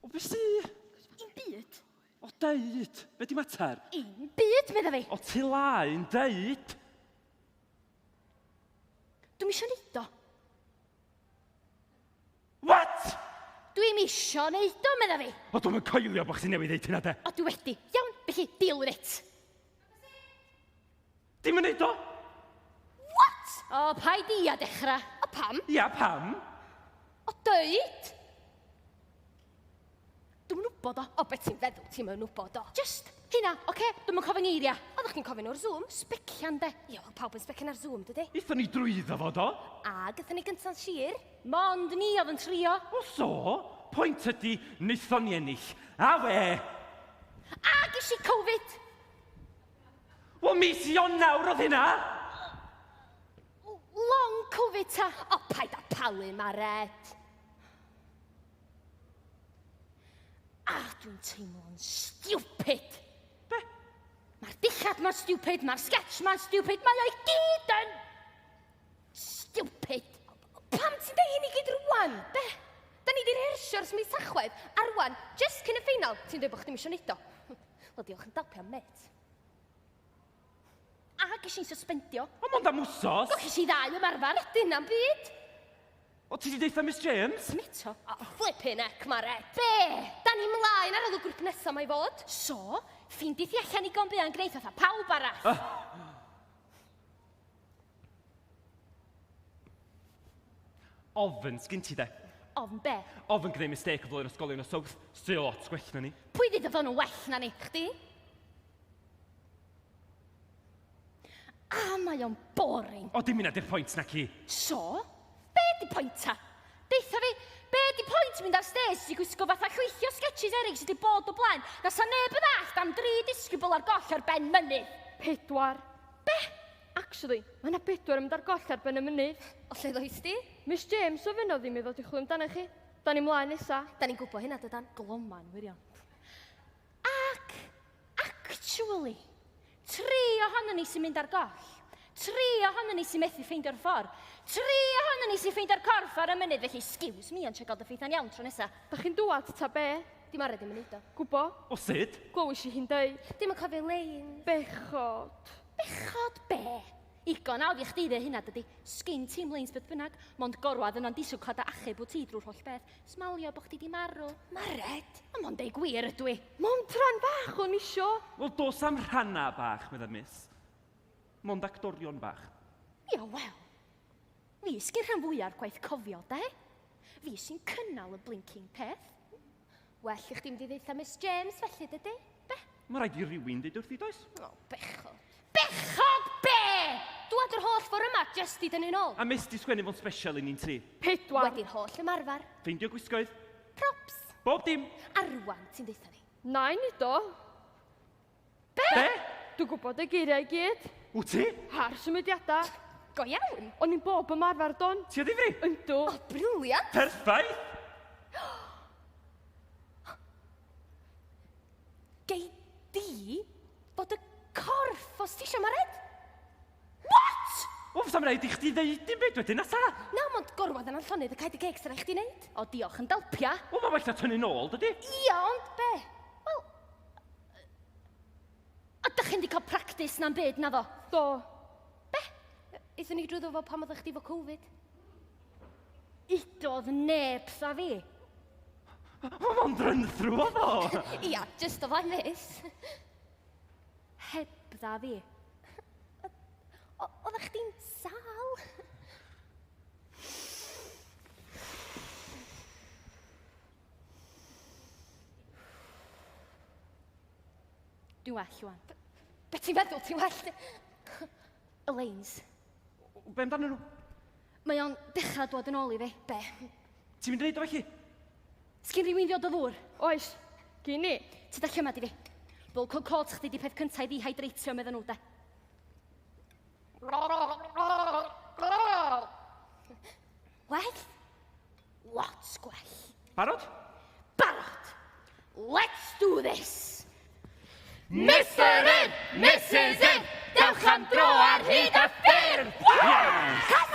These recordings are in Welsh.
O, be sy? Dim byd. O, deud! Be di mater? Dim byd, medda fi. O, ti laen, deud! Dwi'n eisiau neud o. What? Dwi'n eisiau neud o, medda fi. O, dwi'n mynd coelio bod chdi newydd ddeud hynna, de. O, dwi wedi. Iawn, felly, deal with it. Dim yn neud o! What? O, paid i a dechrau. A pam? Ia, pam? O, dweud! Dwi'n wybod o. O, beth ti'n feddwl ti'n mynd wybod o? Just hynna, oce? Okay? Dwi'n mynd cofyn eiria. Oeddech chi'n cofyn o'r Zoom? Specian, de. Ia, oedd pawb yn specian ar Zoom, dydy? Ithon ni drwyddo fo, do? A, gyda ni gynta'n sir? Mond ni oedd yn trio. O, so, pwynt ydy, wnaethon ni ennill. A we! A, gysi Covid! Wel, mis Ionawr oedd hynna! Long Covid ta? O, paid a palu, Maret. A, dwi'n teimlo'n stupid. Be? Mae'r dillad ma'n stupid, mae'r sketch ma'n stupid, mae o'i gyd yn... Stupid! Pam ti'n dweud hyn i gyd rwan? Be? Da ni di rehersio'r mis tachwedd, a rwan, just cyn y ffeinal, ti'n dweud bod chdi'n misio neud o. Wel, diolch yn dalpio, met. A ges i'n suspendio. O, mond am wsos. Do, ges i ddau ymarfer. O, dyna'n byd. O, ti di deitha Miss James? Am eto? O, flippin' ec, Mare. Be? Da ni mlaen ar ôl y grŵp nesaf mae fod. So, ffeindith i allan i gombi a'n gwneud fatha pawb arall. Uh. Ofn, sgyn ti de? Ofn be? Ofn gwneud mistake o ddwy'r ysgolion o South, sy lot gwell na ni. Pwy ddyd o fod nhw'n well na ni? Chdi? A mae o'n boring. O, dim yna di'r pwynt na ci. So? Be di pwynt ta? Deitha fi, be di pwynt mynd ar stage i gwisgo fatha llwythio sketches erig sydd wedi bod o blaen, na sa neb yn allt am dri disgybl ar goll ar ben mynydd? Pedwar. Be? Actually, mae 'na bedwar yn mynd ar goll ar ben y mynydd. O lle ddois di? Miss James ofynnodd i mi ddod i chwilio amdanoch chi. Da ni mlaen nesa. Da ni'n gwybod hynna dydan? Gloma yn wirion. Ac, actually, tri ohonon ni sy'n mynd ar goll. Tri ohonon ni sy'n methu ffeindio'r ffordd. Tri ohonon ni sy'n ffeindio'r corff ar y mynydd, felly excuse me ond check out the faith yn iawn tro nesa. Da chi'n dŵad ta be? Dim ar ddim yn neud o. Gwbo. O sut? Glywis i hi'n deud. Dim yn cofio lein. Bechod. Bechod be? Igon awdd i chdi dde hynna dydi? Sgin ti'm leins beth bynnag, mond gorwedd yno'n diswclad a achub wt ti drwy'r holl beth. Smalio bo chdi di marw. Mared? Ond mond deu gwir ydw i. Mond rhan bach o'n isio. Wel dos am rhanna bach, medda Miss. Mond acdorion bach. Ia wel. Fi sy'n rhan fwya'r gwaith cofio, de? Fi sy'n cynnal y blinking peth. Well i chdi mynd i ddeitha Miss James felly, dydy? Be? Mae rhaid i rywun ddeud wrthi, does? O, oh, bechod. Bechod be? Dwad yr holl ffordd yma, just i dynnu'n ôl. A mis di sgwennu fo'n special i ni'n tri. Pedwar. Wedi'r holl ymarfer. Feindio gwisgoedd. Props. Bob dim. A rwan ti'n ddeitha ni. Na'i ni do. Be? Be? Dwi'n gwybod y geiriau i gyd. Wyt ti? A'r symudiadau. Go iawn. O'n i'n bob ymarfer don. Ti o ddifri? Yndw. O, briliant. Perffaith! Gei di fod y corff os ti eisiau, Mared. What? Wel, fysa'm rhaid i chdi ddeud dim byd wedyn, na sa? Na, mond gorwedd yna'n llonydd y caed y geg sy'n rhaid chdi wneud. O, diolch, yn dalpia. Wel, mae well na tynnu nôl, dydy? Ia, ond be? Wel... Ydych chi'n di cael practis na'n byd, na fo? Do. Be? Ithon ni drwyddo fo pam oeddech chdi fo Covid. Udodd neb sa fi. Mae'n run-through o fo! Ia, just o flaen fus. Heb dda fi. O- oeddech chdi'n sal? Dwi'n well, Iwan. Be ti'n meddwl? Ti'n well? Elaines, Be amdanyn nhw? Mae o'n dechrau dod yn ôl i fi. Be? Ti'n mynd i neud o felly? Sgyn rhywun ddiod o ddŵr? Oes. Gyn ni. Ti da llymad i fi. Bulk o cod chdi di peth cynta i ddihydreitio, meddyn nhw, de. Well? Lots gwell. Barod? Barod! Let's do this! Mr Ed, Mrs Ed, dewch am dro ar hyd a ffyrdd! Yes! Come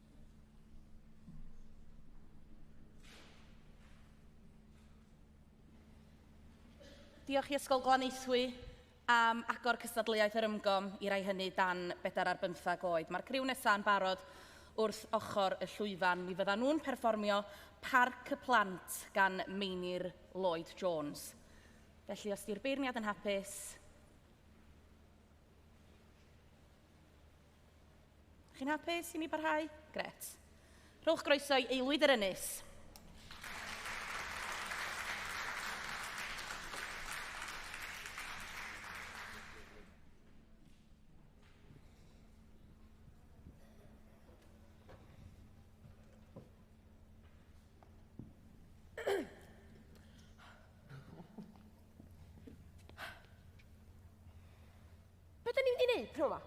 Diolch i Ysgol Glanaethwy am agor cystadleuaeth yr ymgom i rai hynny dan bedair ar bymthag oed. Mae'r criw nesaf yn barod wrth ochr y llwyfan. Mi fyddan nhw'n perfformio Parc y Plant gan Meinir Lloyd Jones. Felly, os di'r beirniad yn hapus, Chi'n hapus i mi barhau? Gret. Rhowch groeso i aelwyd yr ynys. Be da ni'n mynd i neud p'nawn ma?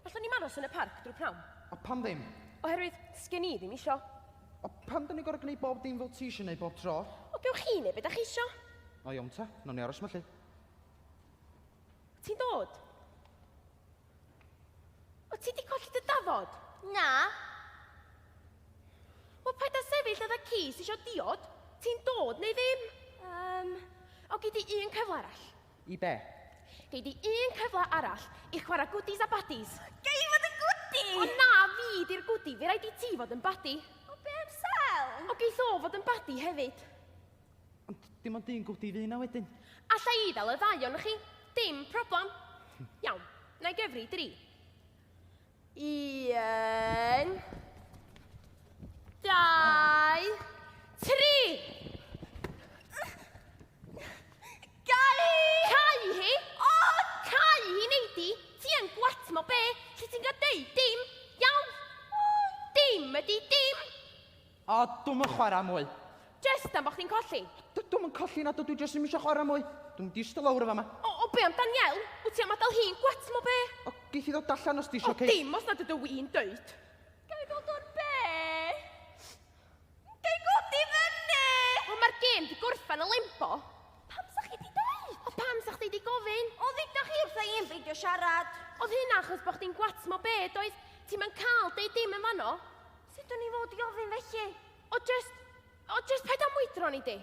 Allwn ni'm aros yn y parc drwy p'nawn? A pam ddim? Oherwydd, sgen i ddim isio. A pam da ni'n gorfod gwneud bob dim fel ti isio neud bob tro? O gewch chi neud be da chi isio. O iawn ta, nawn ni aros ma lly. O ti'n dod? O ti di colli dy dafod? Na. O paid a sefyll fatha ci sy isio diod. Ti'n dod neu ddim? Yym, o gei di un cyfle arall. I be? Gei di un cyfle arall i chwarae goodies a baddies. Gei i fod yn gwdi! O na, fi di'r gwdi, fe rhaid i ti fod yn baddi. O be am sel? O geith o fod yn baddi hefyd. Ond dim ond un gwdi fy na wedyn. Alla i fel y ddau o'n chi, dim problem. Iawn, na i gyfri dri. Un. Dau. Tri! Gai hi! Cai hi? O! Cai hi, neidi! Ti yn gwat mo be? Lle ti'n gael deud dim? Iawn? Dim ydi dim! O, dwi'm yn chwarae mwy. Jest am bo chdi'n colli? D- dwi'm yn colli na dw, dwi jyst ddim eisiau chwarae mwy. Dwi'n mynd i ista lawr yn fama. O, o be am Danielle? Wyt ti am adael hi'n gwet mo be? O, geith i ddod allan os ti eisiau, O, Kate. dim os nad ydw i'n dweud. Ga i ddod o'r be? Ga i godi fyny? O, mae'r gêm di gorffen y limbo. Pam sa chi di dweud? O, pam sa chdi di gofyn? O, dduda chi wrtha i yn beidio siarad. Oedd hynna achos bo chdi'n gwet mo be, doedd? Ti'm yn cael deud dim yn fanno. Sut o'n i fod i ofyn felly? O just, o just paid â mwydro ni di.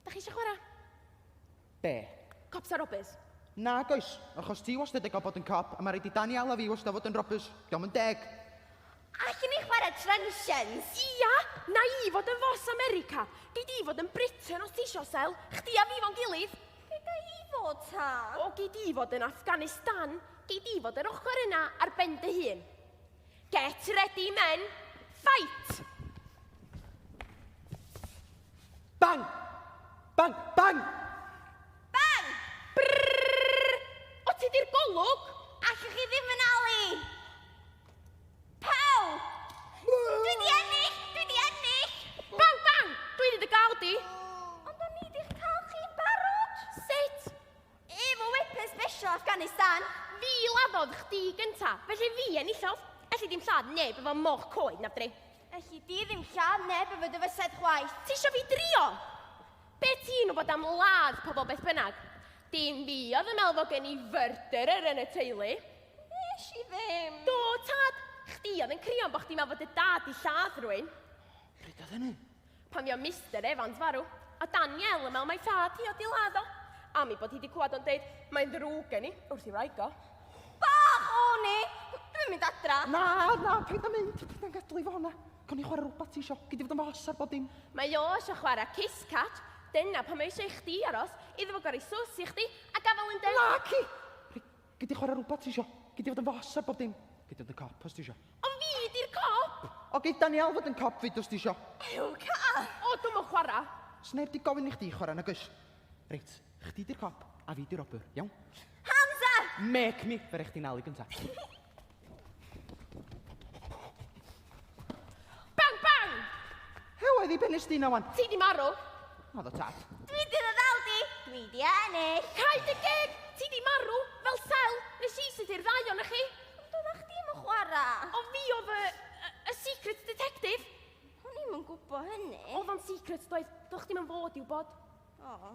Da chi eisiau chwarae? Be? Cops a robbers. Na, goes, achos ti wastad yn cael bod yn cop, a mae rhaid i Daniel a fi wastad fod yn robbers. Diolch yn deg. Allwn ni chwarae trensians? Ia, na i fod yn fos America. Gei di fod yn Britain os ti eisiau, Sel. Chdi a fi fo'n gilydd. Lle ga i fod ta? O, gei di fod yn Afghanistan. Gei di fod yr ochr yna ar ben dy hun. Get ready, men. Fight! Bang! Bang! Bang! Bang! Brrrr! O ti di'r golwg? Allwch chi ddim yn ali! Pawb! Dwi di ennill! Dwi di ennill! Bang, bang! Dwi di dy gael di! Ond o'n i di'ch cael chi barod! Sut? Efo whippers besio Afghanistan! Fi laddodd chdi gynta, felly fi enillodd. Elli di'm lladd neb efo moch coed na fdri. Elli di ddim lladd neb efo dy fysedd chwaith. Ti isio fi drio? Be ti'n wybod am ladd pobl beth bynnag? Dim fi oedd yn meddwl fod gen i fyrdyr yn y teulu. Nes i ddim! Do, tad! Chdi oedd yn crio am bod chdi'n meddwl fod dy dad di lladd rwy'n. Pryd oedd hynny? Pan fio Mister Evans farw, a Danielle yn meddwl mai thad hi oedd di ladd o. Am ei bod hi di clywed o'n deud, mae'n ddrwg gen i, wrth i wraig o. Bach o ni! Dwi'n mynd adra. Na, na, paid â mynd. Paid â'n gadw i fo na. Gawn ni chwarae rhywbeth ti isio. Gei di fod yn fy os ar bod dim. Mae o eisiau chwarae kiss catch. Dyna pam mae eisiau i chdi aros, iddo fo gorau sws i chdi a gafael yn deg. Naci! Gei di chwarae rhywbeth ti isio. Gei di fod yn fos ar bob dim. Gei di fod yn cop os ti isio. Ond fi di'r cop! O, gei Daniel fod yn cop fyd os ti isio. Ew, car! O, dwi'm yn chwarae. Sneb di gofyn i chdi chwarae nag oes? Reit, chdi di'r cop a fi di'r robber, iawn? Hands up! Make me! Fe rei chdi nalu gynta. Bang, bang! He oedd i bennes di na wan? Ti di marw. O, ddo tad. Dwi di ddod al di. Dwi di ennill. Cai dy geg! Ti di marw, fel sel. Nes i sydd i'r ddau o'n chi. Ond doeddech chdi yn chwarae. O fi oedd y, y, y secret detective. O'n i'm yn gwybod hynny. Oedd o'n secret, doedd. Do'ch dim yn fod i'w bod. O.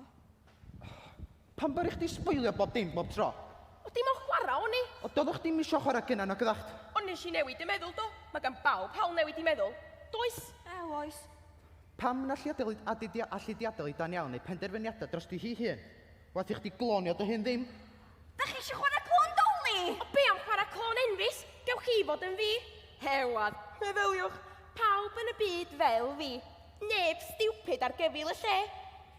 Pam baru chdi sboilio bob dim bob tro? Oedd dim on chwara o'n i! O doddach chdi'm isio chwara gynna nag oddach? Ond nes i newid dy meddwl do? Mae gan bawb hawl newid i meddwl, does? Ew oes. Pam na lliadelyd adedia allu diadelu dan iawn neu penderfyniadau drosti hi hun? Waeth i chdi glonio dy hun ddim. Dach chi eisiau chwarae clôn Dolly? O be am chwarae clôn enfys? Gewch chi fod yn fi. Hewadd! Meddyliwch! Pawb yn y byd fel fi! Neb stupid ar gefyl y lle!